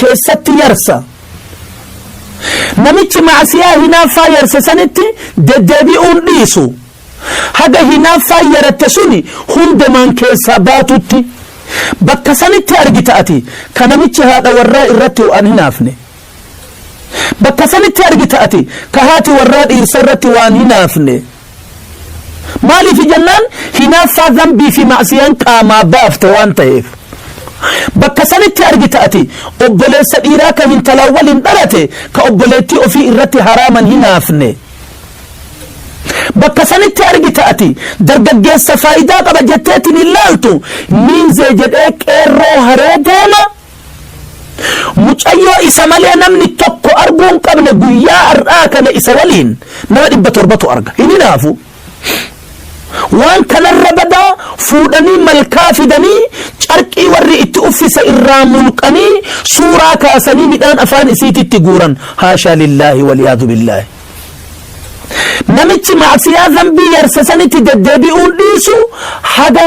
keessatti yarsa. Namichi ma'asiyaa hinaaffaa yarse sanitti deddeebi'uun dhiisu, haga hinaaffaan yaratte suni hundumaan keessaa baatutti. Bakka sanitti argita ati, ka namichi haadha warraa irratti waan hinaafne. Bakka sanitti argita ati, ka haati warraa dhiirsa irratti waan hinaafne. Maaliif jennaan hinaaffaa dhanbii fi ma'siyaan qaamaa baafte waan ta'eef. Bakka sanitti argita ati obboleessa dhiiraa ka hintalaan waliin dhalate ka obboleettii ofii irratti haraaman hinaafne. Bakka sanitti argita ati dargaggeessa faayidaa qaba jetteetiin hin laaltu miinzee jedhee qeerroo haree deema. Mucayyoo isa malee namni tokko arguu hin qabne guyyaa har'aa kana isa waliin nama dhibba torbatu arga. Hin hinaafu. Waan kanarra badaa fuudhanii malkaa fidanii carqii warri itti uffisa irraa mulqanii suuraa kaasanii midhaan afaan isiititti guuran. Haashaa lillaahi waliyaadu billaahi. Namichi maasiyaa zambii yarsa sanitti deddeebi'uun dhiisu haga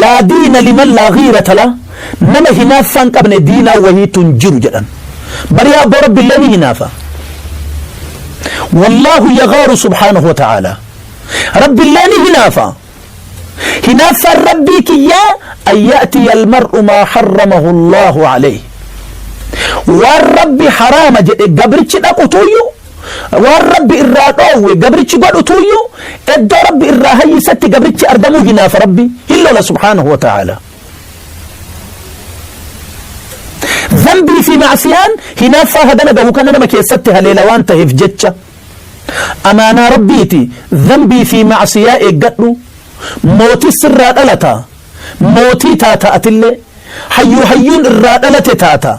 Laa diina liman laa ghiirata lah, nama hinaaffaa hin qabne diinaa wahiitu hin jiru jedhan. Barii abboo Rabbillee ni hinaafa. Wallaahu yaghaaru subhaanahu wa ta'aalaa. Rabbillee ni hinaafa. Hinaaffaan Rabbii kiyyaa an ya'tiya almar'u maa harramahu Allaahu alayhi. Waan Rabbi haraama jedhe gabrichi dhaqutuyyuu Waan Rabbi irraa dhoowwe gabrichi godhu tuuyyu iddoo Rabbi irraa hayyisetti gabrichi argamuu hinaafa Rabbi hin lola subhaanahu wa ta'ala. Zambii fi maasiyaan hinaaffaa hagana gahu kana nama keessatti haleela waan ta'eef jecha. Amaanaa Rabbiiti zambii fi maasiyaa eeggadhu mootii sirraa dhalata mootii taata atillee hayyuu hayyuun irraa dhalate taata.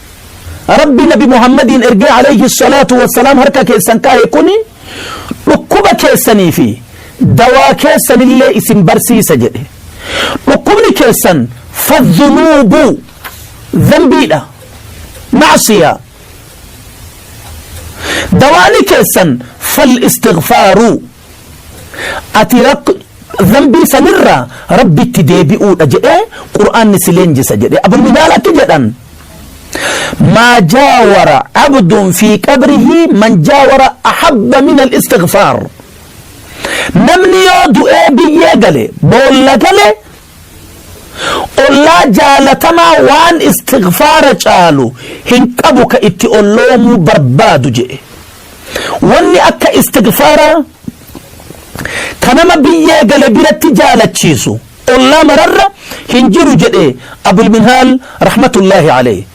Rabbi Nabi Muhammadiin ergee alayhi salaatu wassalaam harka keessan kaahe kuni dhukkuba keessanii fi dawaa keessanillee isin barsiisa jedhe. Dhukkubni keessan fadhunuubu dhanbiidha macsiyaa. Dawaani keessan fal istighfaaru. ati rakk zambii sanirraa rabbitti deebi'uudha jedhee qur'aanni si leenjisa jedhe abu midaal akki jedhan maa jaawara abdun fi qabrihi man jaawara ahabba min al-istighfaar namni yoo du'ee biyyee gale boolla gale ollaa jaalatamaa waan istighfaara caalu hin qabu ka itti olloomuu barbaadu jedhe wanni akka istighfaaraa ka nama biyyee gale biratti jaalachiisu ollaa mararra hin jiru jedhe abul minhaal rahmatullaahi alayhi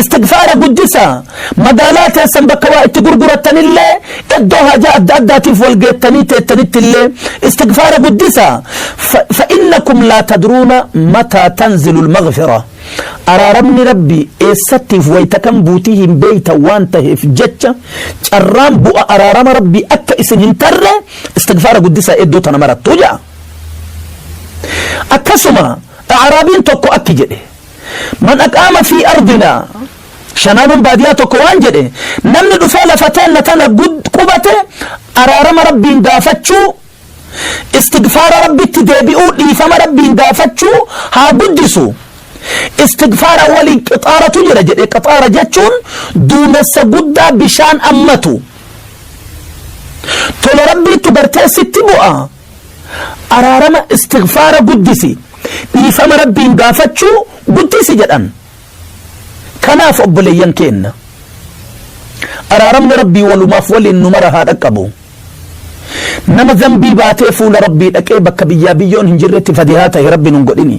Istighfaara guddisaa. Magaalaa teessan bakka waa itti gurgurattan illee, iddoo haajaa adda addaatiif wal geettanii teettanitti illee istighfaara guddisaa. Fa, fa'innakum laa tadruuna mataa tanzilul maghfira. Araaramni Rabbii eessattiif wayta kam buutii hin beeytan waan taheef jecha carraan bu'a araarama Rabbii akka isin hin tarre istighfaara guddisaa iddoo tana marattu ja'a. Akkasuma A'raabiin tokko akki jedhe. Man aqaama fii ardinaa Shanaanuun baadiyaa tokko waan jedhe namni dhufee lafa teenna tana qubate araarama rabbiin gaafachuu istigfaara rabbitti deebi'uu dhiifama rabbiin gaafachuu haa guddisu istigfaara waliin qixaaratu jira jedhe qixaara jechuun duumessa guddaa bishaan ammatu tola rabbiittu gartee sitti bu'a araarama istighfaara guddisi dhiifama rabbiin gaafachuu guddisi jedhan kanaaf obboleeyyan keenna araaramni rabbii walumaaf waliin nu mara haa dhaqqabu nama zambii baatee fuula rabbii dhaqee bakka biyyaa biyyoon hin jirretti fadihaa ta'e rabbi nun godhini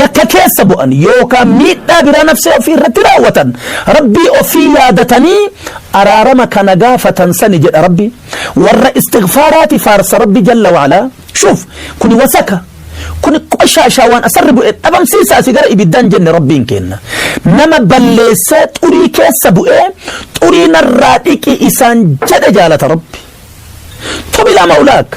yakka keessa bu'an yookaan miidhaa biraa nafsee ofii irratti raawwatan rabbii ofii yaadatanii araarama kana gaafatan sani jedha rabbi warra istighfaaraati faarsa rabbi jalla wa'alaa shuuf kuni wasaka kuni qoshaashaa waan asarri bu'e dhabamsiisaa si gara ibiddaan jenne rabbiin kenna nama balleessee xurii keessa bu'ee xurii narraa dhiqi isaan jedhe jaalata rabbi tubilaa maulaaka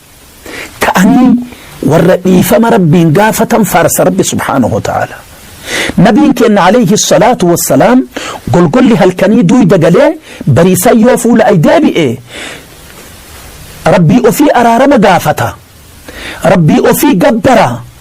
Ka'anii warra dhiifama Rabbiin gaafatan faarsa Rabbi subhaanahu wa ta'ala. Nabiin keenna alayhi salaatu wassalaam golgolli halkanii duuyda galee bariisaa yoo fuula ay deebi'e Rabbii ofii araarama gaafata. Rabbii ofii gabbara.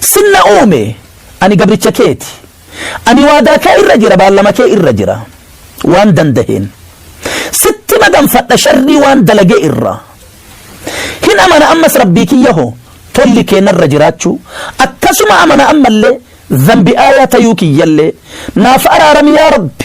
Sin na uume, ani gabricha kee ti. Ani waadaa kee irra jira, baallama kee irra jira. Waan dandaheen. Sitti maganfadha sharrii waan dalage irra. Hin amana ammas Rabbii kiyya ho, tolli kee narra jiraachuu. Akkasuma amana ammallee, zanbi aayaa tayuu kiyyallee. Naaf araarami yaa Rabbi.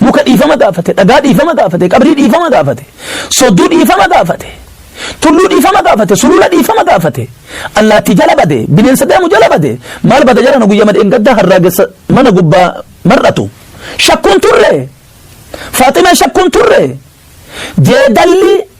Muka dhiifama gaafate, dhagaa dhiifama gaafate, qabrii dhiifama gaafate, sodduu dhiifama gaafate, tulluu dhiifama gaafate, sulula dhiifama gaafate, allaattii jala bade, bineensa deemu jala bade, maal bada jarana guyyama dheengaddaa harraagessa mana gubbaa mar'atu. Shakkuun turre. Faaximee shakkuun turre. Jeedalli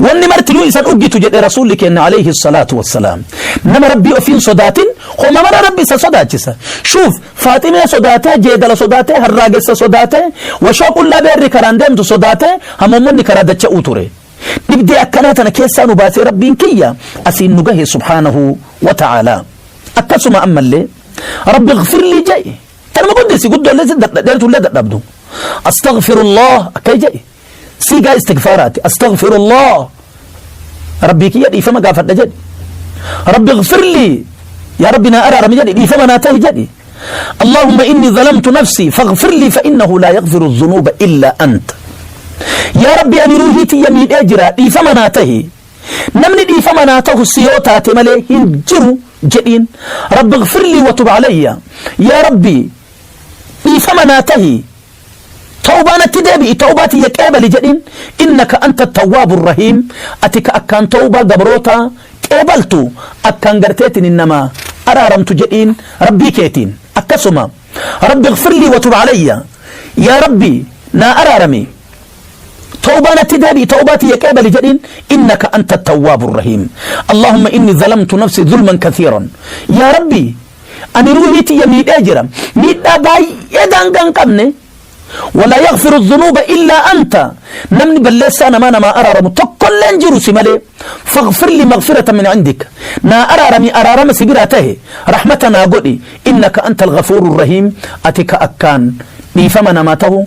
Wanni martinuu isa dhuggitu jedhe Rasuulli keenna alayhi salaatu wassalaam. Nama Rabbii ofii hin sodaatin homa mara Rabbi isa sodaachisa. Shuuf Faaximee sodaatee, jeedala sodaatee, harraagessa sodaatee, washoo qullaa beerri karaan deemtu sodaatee, hamoommonni karaa dacha'uu ture. Dhibdee akkanaa tana keessaa nu baasee Rabbiin kiyya asiin nu gahe subhaanahu wa ta'aalaa. Akkasuma ammallee Rabbi gfirlii jedhi. Tanuma guddisi guddoollee si dadha- dheertullee dadhabdu. Astaghfirullah akka jedhi. Siigaa istigfaaraati. Astagfirullah. Rabbii kiyya dhiifama gaafadha jedhi. Rabbi gfirlii. Yaa Rabbi naa araarami jedhi. Dhiifama naa tahi jedhi. Allahumma inni zalamtu nafsi faghfirlii fa innahu laa yaghfiru dhunuuba illaa anta. Yaa Rabbi ani ruuhii tiyya miidhee jira dhiifama naa tahi. Namni dhiifama naa tahu si yoo taate malee hin jiru jedhiin. Rabbi gfirlii wa tub alayya. Yaa Rabbi dhiifama naa tahi. Tawbaa natti deebi'i, tawbaa tiyya qeebali jedhiin. Innaka anta attawwaabu arrahiim, ati ka akkaan tawbaa gabrootaa qeebaltu, akkaan garteetiin nama araaramtu jedhiin Rabbii keetiin. Akkasuma, Rabbi ighfir lii wa tub alayya, Yaa Rabbi naa araarami, tawbaa natti deebi'i, tawbaa tiyya qeebali jedhiin. Innaka anta attawwaabu arrahiim. Allaahumma inni zalamtu nafsii zulman kathiiran. Yaa Rabbi! Ani ruuhii tiyya miidhee jira. Miidhaa baay'ee daangaa hin qabne. Walaa yaghfiru dhunuuba illaa anta. Namni balleessaa namaa namaa araaramu tokkollee hin jiru si malee. Faghfir li maghfirata min indika. Naa araarami araarama si biraa tahe. Rahmata naa godhi. Innaka anta al-ghafuuru rahiim. Ati ka akkaan dhiifama namaa tahu.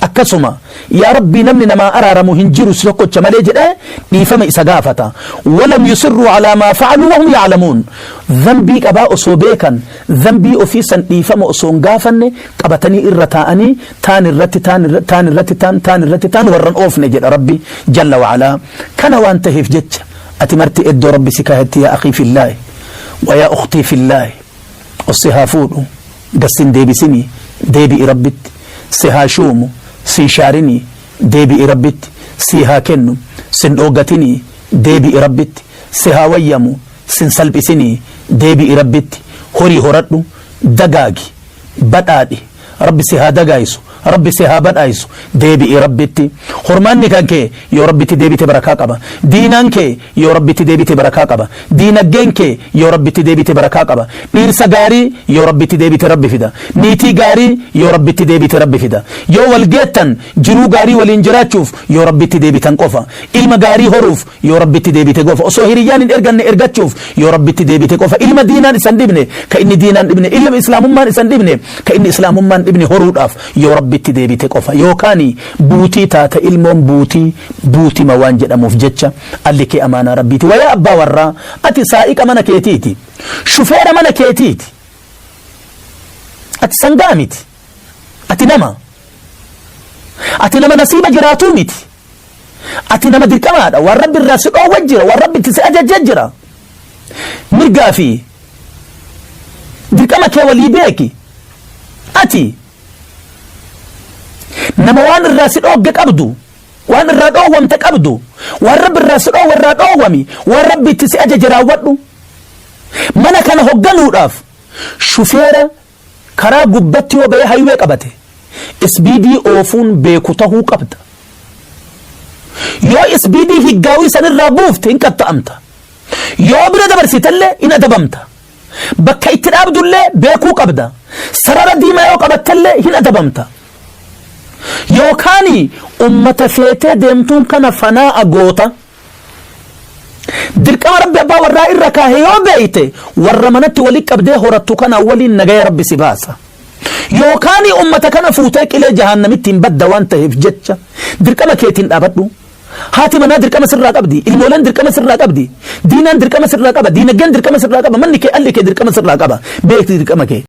Akkasuma, Yaa Rabbii namni namaa araaramu hin jiru si tokkocha malee jedhee dhiifama isa gaafata. Walam yusirruu alaa maa fa'aluu wahum ya'lamuun. Dhanbii qabaa osoo beekan dhanbii ofii san dhiifama osoo hin gaafanne qabatanii irra taa'anii taan irratti taan irratti taan irratti taan taan irratti taan warran oofne jedha Rabbi jalla wa'alaa. Kana waan taheef jecha ati marti eddoo Rabbi si kaahetti yaa akhii fillaahi wa yaa ukhtii fillaahi ossi haa fuudhu. Das sin deebisinii deebi'i rabbitti si haa shuumu sin shaarinii deebi'i rabbitti sii haa kennu sin dhooggatinii deebi'i rabbitti si haa wayyamu sin salphisinii deebi'i rabbitti horii horadhu dagaagi badhaadhi rabbi si haa dagaayisu Rabbi si haa badhaayisu deebi'i Rabbitti Hormaanni kan kee yoo Rabbitti deebite barakaa qaba Diinaan kee yoo Rabbitti deebite barakaa qaba Diinaggeen kee yoo Rabbitti deebite barakaa qaba Dhiirsa gaarii yoo Rabbitti deebite Rabbi fida Niitii gaarii yoo Rabbitti deebite Rabbi fida Yoo wal geettan jiruu gaarii waliin jiraachuuf yoo Rabbitti deebitan qofa Ilma gaarii horuuf Yoo Rabbitti deebite gofa osoo hiriyyaan hin erganne ergachuuf yoo Rabbitti deebite qofa ilma diinaan isan dhibne ka inni diinaan dhibne ilma islaamummaan isan dhibne ka inni islaamummaan dhibne horuudhaaf yoo Rabbitti deebite qofa yookaani buutii taata ilmoon buutii buutima waan jedhamuuf jecha alli kee amaanaa Rabbiiti wayaa abbaa warraa ati saa'iqa mana keetiiti shufeera mana keetiiti ati sangaa miti Ati nama. Ati nama nasiiba jiraatuu miti. Ati nama dirqamaadha. Waan rabbi irraa si dhoowwa jira. Waan rabbi itti si ajajja jira. Mirgaa fi dirqama kee walii beeki. Ati nama waan irraa si dhoogge qabdu. Waan irraa dhoowwamte qabdu. Waan rabbi irraa si dhoowwe irraa dhoowwami. Waan rabbi itti si ajaje raawwadhu. Mana kana hogganuudhaaf shufeera Karaa gubbatti yoo bahee highway qabate isbiidii oofuun beeku tahuu qabda. Yoo isbiidii higgaawii san irraa buufte hin qaxxa'amta. Yoo bira dabarsitellee hin adabamta. Bakka itti dhaabdullee beekuu qabda. Sarara diimaa yoo qabattellee hin adabamta. Yookaani ummata feetee deemtuun kana fanaa'a goota. Dirqama Rabbi abbaa warraa irra kaahe yoo beeyte warra manatti walitti qabdee horattu kana waliin nagaya Rabbi si baasa. Yookaan ummata kana fuutee qilee jahaannamitti hin badda waan taheef jecha dirqama keetiin dhaabadhu. Haati manaa dirqama sirraa qabdi, ilmooleen dirqama sirraa qabdi, diinaan dirqama sirraa qaba, diinagdeen dirqama sirraa qaba, manni kee alli kee dirqama sirraa qaba, beekti dirqama kee.